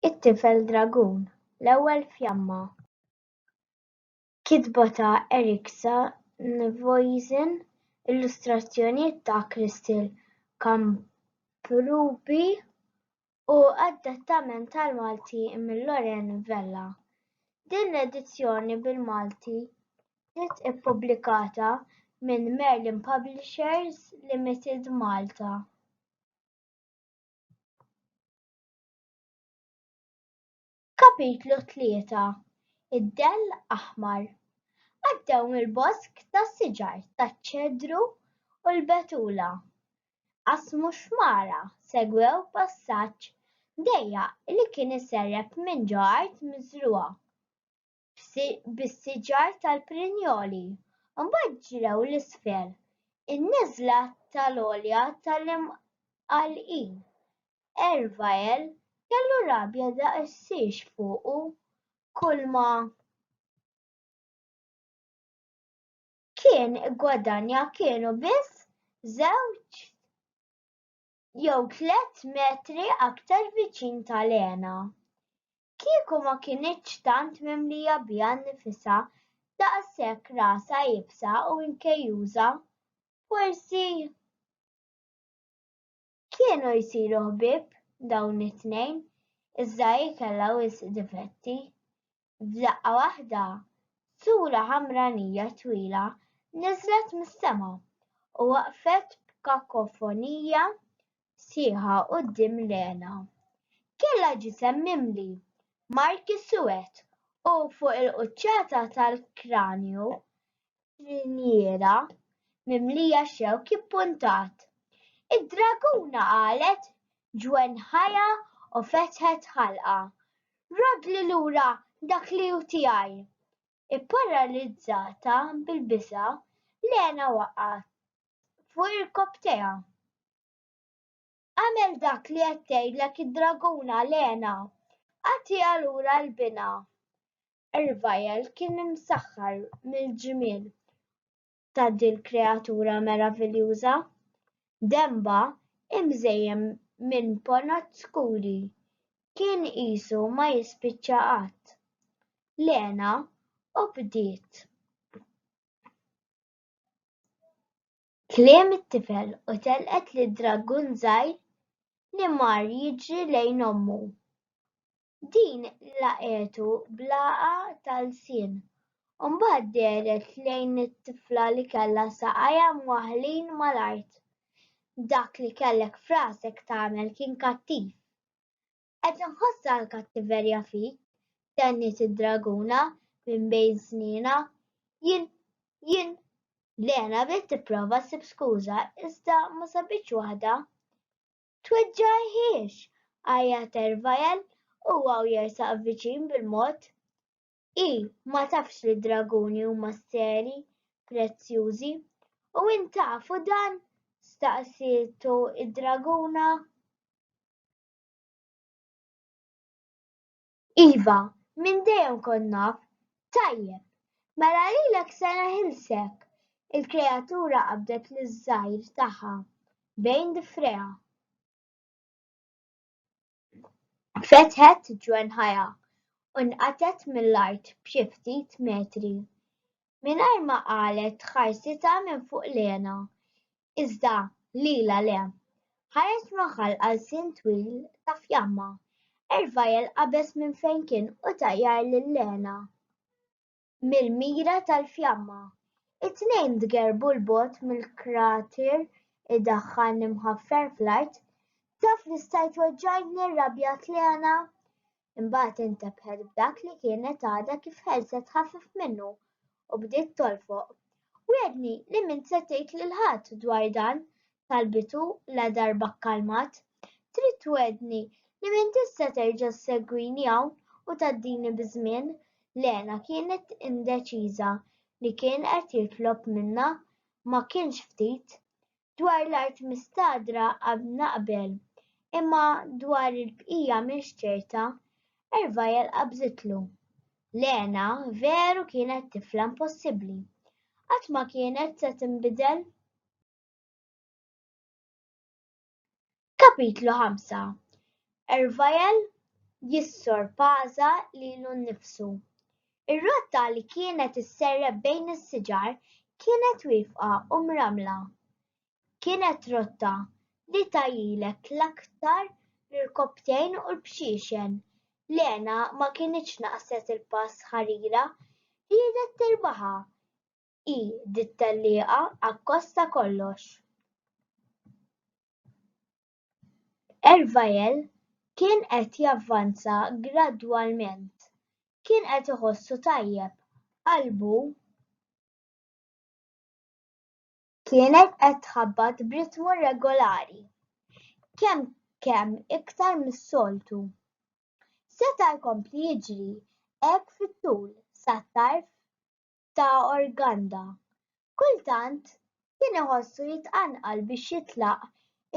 It-Tifel Dragun, L-Ewwel Fjamma, kitba ta' Erik Sandvoisen, illustrazzjonijiet ta' Christel Kamprubi u adattament tal-Malti minn Loren Vella. Din l-edizzjoni bil-Malti Ġiet ippubblikata minn Merlin Publishers Limited Malta. Kapitlu 3 Id-dell aħmar Għaddew mill-bosk tas-siġar taċ-ċedru u l-betula. Qasmu xmara, segwew passaġġ dejjaq li kien iserrep minn ġo art miżrugħa. bis-siġar tal-Prinjoli, mbagħad ġrew 'l isfel in-neżla tal-għolja tal-Imqallqin. Ervael kellu rabja daqsiex fuqu kulma kien iggwadanja kienu biss żewġt jew tliet metri aktar viċin ta' Lena. Kieku ma kinitx tant mimlija biha nnifisha, daqshekk rasha iebsa u nkejjuża, forsi Kienu jsiru ħbieb dawn it-tnejn, iżda hi kellha wisq difetti. F'daqqa waħda, sura ħamranija twila niżlet mis-sema u waqfet b'kakofonija sħiħa quddiem l-għena. Kellha ġisem mimli marki suwed u fuq il-quċċata tal-kranju l-injera mimlija xewk ippuntat. Id-draguna qalet ġwenħajha u fetħet ħalqha. Roddli lura dak li hu tiegħi! Ipparalizzata bil-biża', Lena waqgħet fuq irkopptejha. Agħmel dak li qed tgħidlek id-draguna, Lena! Agħtiha lura l-binha! Ervajel kien imsaħħar mill-ġmiel ta' dil-kreatura meraviljuża, denbha imżejjen minn ponot skuri kien qisu ma jispiċċa qatt. Lena obdiet. Kliem it-tifel u telqet lid-dragun żgħir li mar jiġri lejn ommu. Din laqgħetu bl-għagħa tal-lsien u mbagħad dehret lejn it-tifla li kellha saqajha mwaħħlin mal-art. Dak li kellek f'rasek tagħmel kien kattiv. Qed inħossha l-kattiverja fik, tenniet id-draguna minn bejn snienha. Jien, jien. Lena bdiet tipprova ssib skuża iżda ma sabitx waħda. Tweġġagħhiex! għajjat Ervajal u huwa jersaq viċin bil-mod. Hi ma tafx li d-draguni huma seri, prezzjużi. U int tafu dan? staqsietu d-draguna. Iva, minn dejjem kont naf. Tajjeb, mela lilek se neħilsek! Il-kreatura qabdet liż-żgħir tagħha bejn difrejha. Fetħet ġwenħajha u nqatgħet mill-art b'xi ftit metri. Mingħajr ma qalet ħarsitha minn fuq l-hena. iżda lilha le. Ħares raħal għal sien twil ta' fjamma. Ervajel qabeż minn fejn kien u tajjar lil Lena mill-mira tal-fjamma. It-tnejn tgerrbu 'l bogħod mill-krater idaħħalni mħaffer fl-art. Taf li stajt weġġajtni? rrabjat Lena. imbagħad intebħet b'dak li kienet għadha kif ħelset ħafif minnu u bdiet tolfoq. Wiegħdni li min se tgħid lil ħadd dwar dan, talbitu la darba kkalmat. Trid twegħdni li min tista' terġa' ssegwini hawn u tgħaddini biż-żmien. Lena kienet indeċiża li kien qed jitlob minnha ma kienx ftit. Dwar l-art mistagħdra għad naqbel, imma dwar il-bqija m'iniex ċerta. Ervajal qabżitlu. Lena veru kienet tifla impossibbli. Qatt ma kienet se tinbidel. Kapitlu 5 Ervajel jissorpaża lilu nnifsu. Ir-rotta li kienet isserreb bejn is-siġar kienet wifqa u mramla. Kienet rotta li tajilek l-aktar l-irkobtejn u l-bxiexen. Lena ma kinitx naqset il-pass ħarira, riedet tirbaħha. hi dit-tellieqa akkost ta' kollox. Ervajel kien qed javvanza gradwalment. Kien qed iħossu tajjeb. Qalbu kienet qed tħabbat b'ritmu regolari, kemm kemm iktar mis-soltu. Seta' jkompli jiġri hekk fit-tul sat-tarf ta' Organda. Kultant kien iħossu jitqanqal biex jitlaq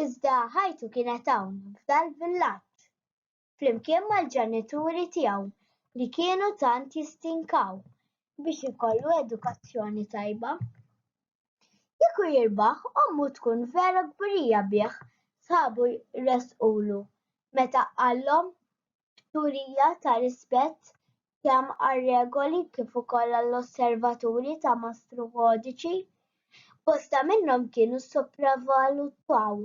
iżda ħajtu kienet hawn f'dal-villaġġ. Flimkien mal-ġenituri tiegħu li kienu tant jistinkaw biex ikollu edukazzjoni tajba. Kieku jirbaħ ommu tkun vera kburija bih, sħabu resqulu meta qallhom turija ta' rispett kemm għar-regoli kif ukoll għall-osservaturi ta' Mastru Codici. Bosta minnhom kienu ssopravvalutaw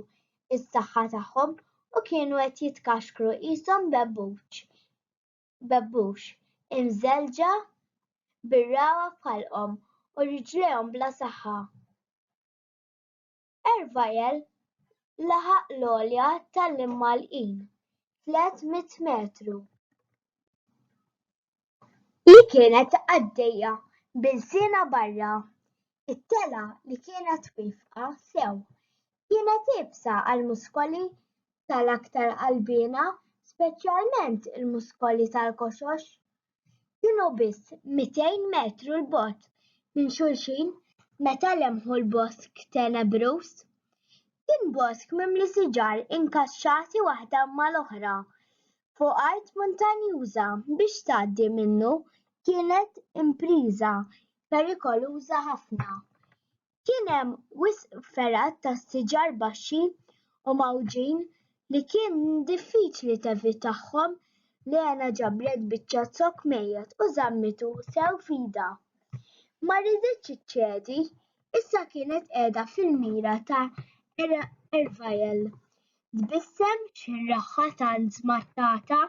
is-saħħa tagħhom u kienu qed jitkaxkru qishom bebbuċ bebbux imżelġa bir-ragħa f'ħalqhom u riġlejhom bla saħħa. Ervajel laħaq l-għolja tal-imgħalqin, 300 metru, li kienet għaddejja b'ilsienha barra. It-telgħa li kienet wiefqa sew kienet iebsa għall-muskoli tal-aktar qalbiena, speċjalment il-muskoli tal-koxox. kienu biss 200 metru l-bogħod minn xulxin meta lemħu l-bosk tenebruż. Kien bosk mimli siġar inkaxxati waħda mal-oħra fuq art muntanjuża biex tgħaddi minnu kienet impriża perikoluża ħafna. kien hemm wisq fergħat ta' siġar baxxi u mgħawġin li kien diffiċli tevitahom. Lena ġabret biċċa zokk mejjet u żammitu sew f'idha. Ma riditx iċċedi, issa kienet qiegħda fil-mira ta' Ervael. Tbissem xirraħha tant żmattata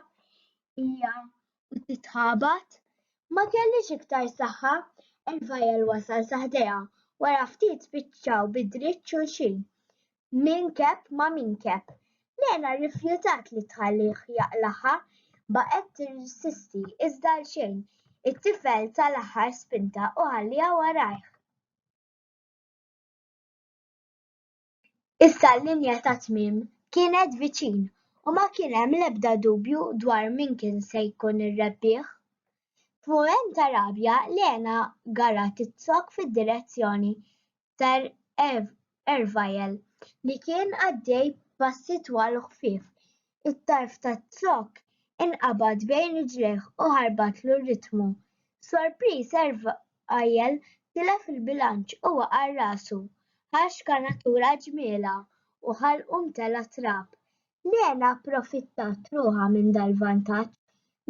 hija u titħabat. Ma kellhiex iktar saħħa, il-vajjel wasal sa ħdejha, wara ftit spiċċaw bi dritt xulxin. Min keb ma' min keb. Lena rrifjutat li tħallih jaqlagħha, baqgħet tirsisti iżda għalxejn, it-tifel ta l-aħħar spinta u ħalliha warajh. Issa l-linja tat-tmiem kienet viċin u ma kien hemm l-ebda dubju dwar min kien se jkun ir-rebbieħ. F'mument ta' rabja, Lena garat tizzokk fid-direzzjoni ta' Ervajel li kien għaddej passi twal u ħfief u t-tarf taz-zokk inqabad bejn riġlejh u ħarbatlu r-ritmu. Sorpriż Ervajel tilef il-bilanċ u waqa' rasu. Ħax kanatura ġmielha u ħalqu mtela' trab. Lena approfittat ruħha minn dal-vantaġġ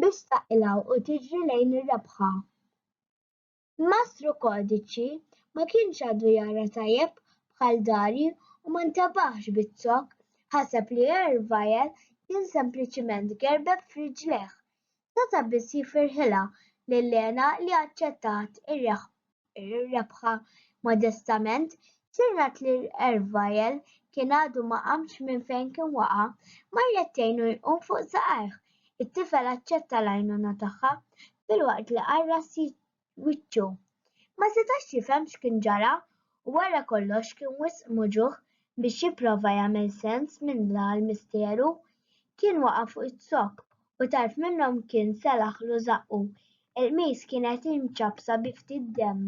biex taqilgħu u tiġri lejn ir-rebħa. Mastru Kodiċi ma kienx għadu jara tajjeb bħal Dari u ma ntabaħx biz-zokk, ħaseb li Ervajel kien sempliċiment gerbeb f'riġlejh. Seta' biss jifirħilha lil Lena li aċċettat ir-rebħa modestament, Sinjrat li Ervajel kien għadu ma qamx minn fejn kien waqa', marret tgħinu jqum fuq saqajh. It-tifel aċċetta l-għajnuna tagħha filwaqt li qarras wiċċu. Ma setax jifhem x'kien ġara u wara kollox kien wisq moġugħ biex jipprova jagħmel sens minn dal misteru. Kien waqa' fuq iz-zokk u tarf minnhom kien selaħlu żaqqu. Il-qmis kienet imċappsa bi ftit demm.